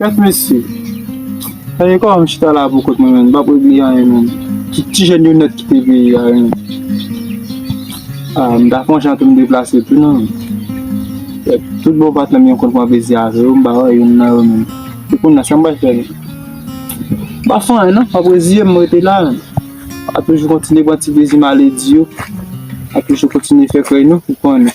Kèt mesye. Sa gen kòman m chita la pou kont mwen menm, m pap regle anyen menm. Ki ti jèn yo nèt ki te veye a menm? A, m ta fè yon jan tou m deplase tou non. Kèt, tout bon patnè m yo konn pran plezi avè yo, m pa wè youn nan yo menm. E kounya, sa m pral fè menm? M pap fè anyen non, m ap reziye m, m rete la menm. Ap toujou kontinye pran ti plezi maledi yo. Ap toujou kontinye fè krèy nou, ou konnen.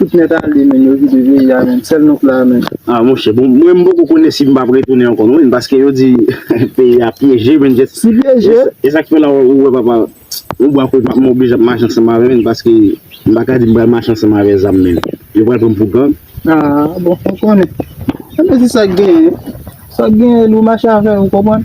Tout nèt ale menn yo vide peyi a menn sèl nou k la menn. Ah monchè bon mwen m poko konnen si m pap retounen ankò non menn paske yo di peyi a pyeje menn jes Si pyeje? e sak fè la ou wè papa yon bwa kote m oblije ap mache ansanm avè menn paske m pa ka di m pral mache ansanm avè zam menn yo pral pran m pou gang. Ah bon ou konnen. Ebyen se sak genyen sak genyen nou mache avè yo ou konprann.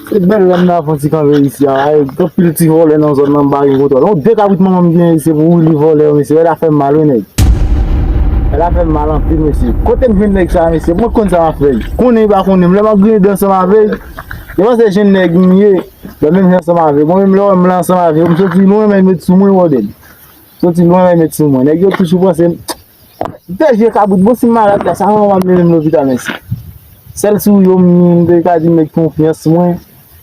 Se bel la nan fon ti kanpe isi a la e gen pil ti vole nan zon nan mpa gen kontrol. Yon de kabrit manman m genyen isi pou li vole yo mesye e la fem mal wi neg. E la fem mal anpil mesye. Kotem jwenn neg sa mesye mwen konn sa map fe ui. Konnen li pa konnen m lè map griyen dan ansanm ave li li panse jen neg m ye lè menm jan ansanm ave mwen menm lè wem la ansanm ave m soti lwen men met sou mwen woded. Soti lwen men met sou mwen neg yo toujou panse m. Pè je kabrit bon sim malad la sa kòman wap mennen m lopital mèsi sèl si w yo m m te ka di m mèt konfyans mwen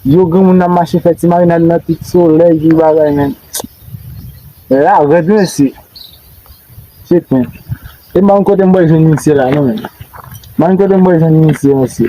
yo granmoun nan mache fè ti marinad nan tout solèy tout bagay men la rèd mèsi se plen e m pa konn kote m bwè jwenn misye la non menm m pa konn kote m bwè jwenn misye mèsi.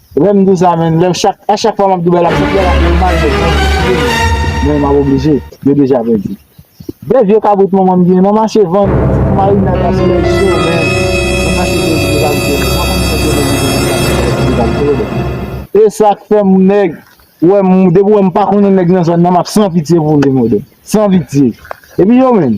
Lèm di sa menn lèm chak a chak fwa map di bagay la map fèl mal men mwen oblije men map oblije yo deja pèdi de vye kabrit manman m genyen map mache vann pou marina ta sou lèt cho men map mache vann vye kabrit yo menm map mache vann vye kabrit yo menm esak fè m nèg wèm depi wèm pa konnen nèg nan zòn nan map san pitye pou li mòde san pitye epi yo menm.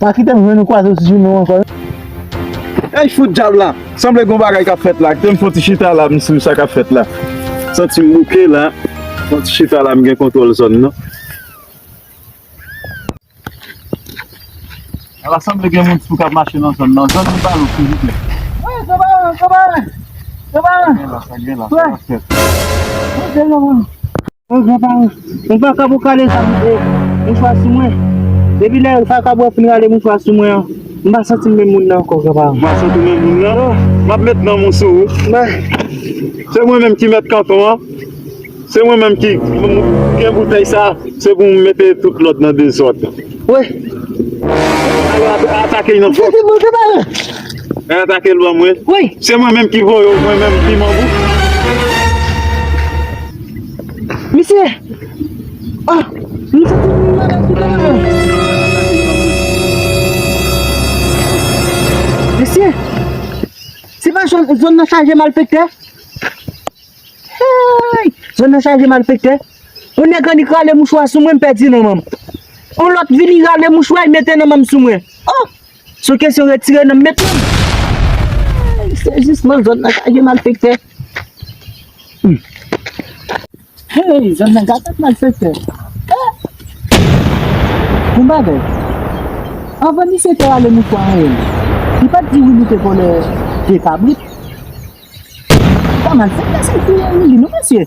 Pa kitem jwenn ou kwazew ti jounen w ankò non. Ey fout djab la, sanble gon bagay kap fèt la, kitem fon ti chita la m sou sa kap fèt la. Santim bouke la, fon ti chita la m gen kontwòl zòn nan. Ala sanble gen moun tou kap mache nan zòn nan, zòn nou pa lou silvouplè. Woy kanparan, kanparan, kanparan. Sa gen la, sa gen la, sa kap fèt. Woy se yon moun. Mwen pran pa ou. Mwen pa kab ou kale zam e mouchwa sou mwen. Depi lè pa kab wè fin rale mouchwa sou mwen an, m pa santi m menm moun nan ankò gran pa. M pa santi w menm moun nan non. M ap met nanm ou sou ou. Men, se mwen menm ki mèt kanton an. Se mwen menm ki gen boutèy sa a. Se pou m mete tout lòd nan dezòd. Wi. Alò atake l nan fòs. Depi mwen gran pa ou. E atake l ban mwen. Wi. Se mwen menm ki voye w mwen menm piman bouch. Misye! Oh! M santi m vin malad tout an an! Mesye! Se pa zòn, zòn nan chaje malfektè? Heyy! Zòn nan chaje malfektè? Yon nèg annik rale mouchwa sou mwen m pèdi nan men m. Yon lòt vini rale mouchwa l mete nan men m sou mwen. Oh! Sou kesyon retire nan met nan. Se jis nan zòn nan ka gen malfektè. Hey zòn nan ka gen malfektè. Bon bagay. Anvan misye te ale mouton an ye. Li pat di Willy te vòlè 2 kabrit. Sa malfektè sa ki touye Willy non mesye.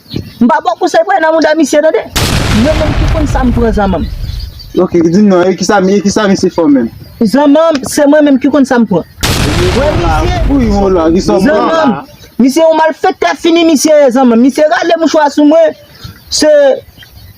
M pa baw konsèy pou al nan mouda misye tande. Mwen menm ki konn sam pran zanmanm. Ok dim non e kisa e kisa misye fè w menm. Zanmanm se mwen menm ki konn sam pran. Wè misye. Pou yon w la kisa w pran. Zanmanm misye yon malfektè fini misye ye zanmanm misye rale mouchwa sou mwen se.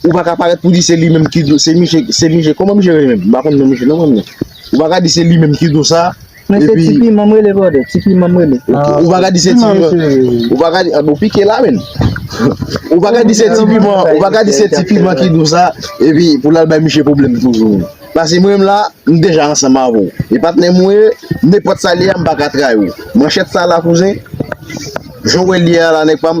Ou pa ka parèt pou di se li menm ki do se misye se misye kòman misye rele menm m pa konn non misye non mwen menm ou pa ka di se li menm ki do sa Men se ti piman m rele brother ti piman m rele ou pa ka di se ti piman ou pa ka di ou pike la menn ou pa ka di se ti piman ou pa ka di se ti piman ki do sa epi pou l al bay misye pwoblèm toujou pase mwen menm la m deja ansanm avè w e patnè m ou ye nenpòt sa l ye a m pa ka trayi w manchèt sa la kouzen jan w wè l ye a la nèg pa m.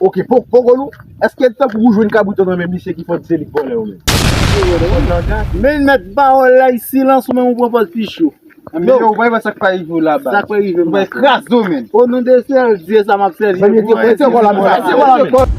Ok po pogolou eske li tankou ou jwenn kabritan nan men misye ki fò di se li k vòlè yo menm. Menn mèt pawòl la y silans ou menm ou pran pòz pi cho. Anmeyy ou pral wè sak pral rive w la baz. Sak pral rive m la. Ou pral kraze w menn. O non de sèl Dye sa map sèvi. Mèt yo pran se kòl la menm. Se kòl la menm.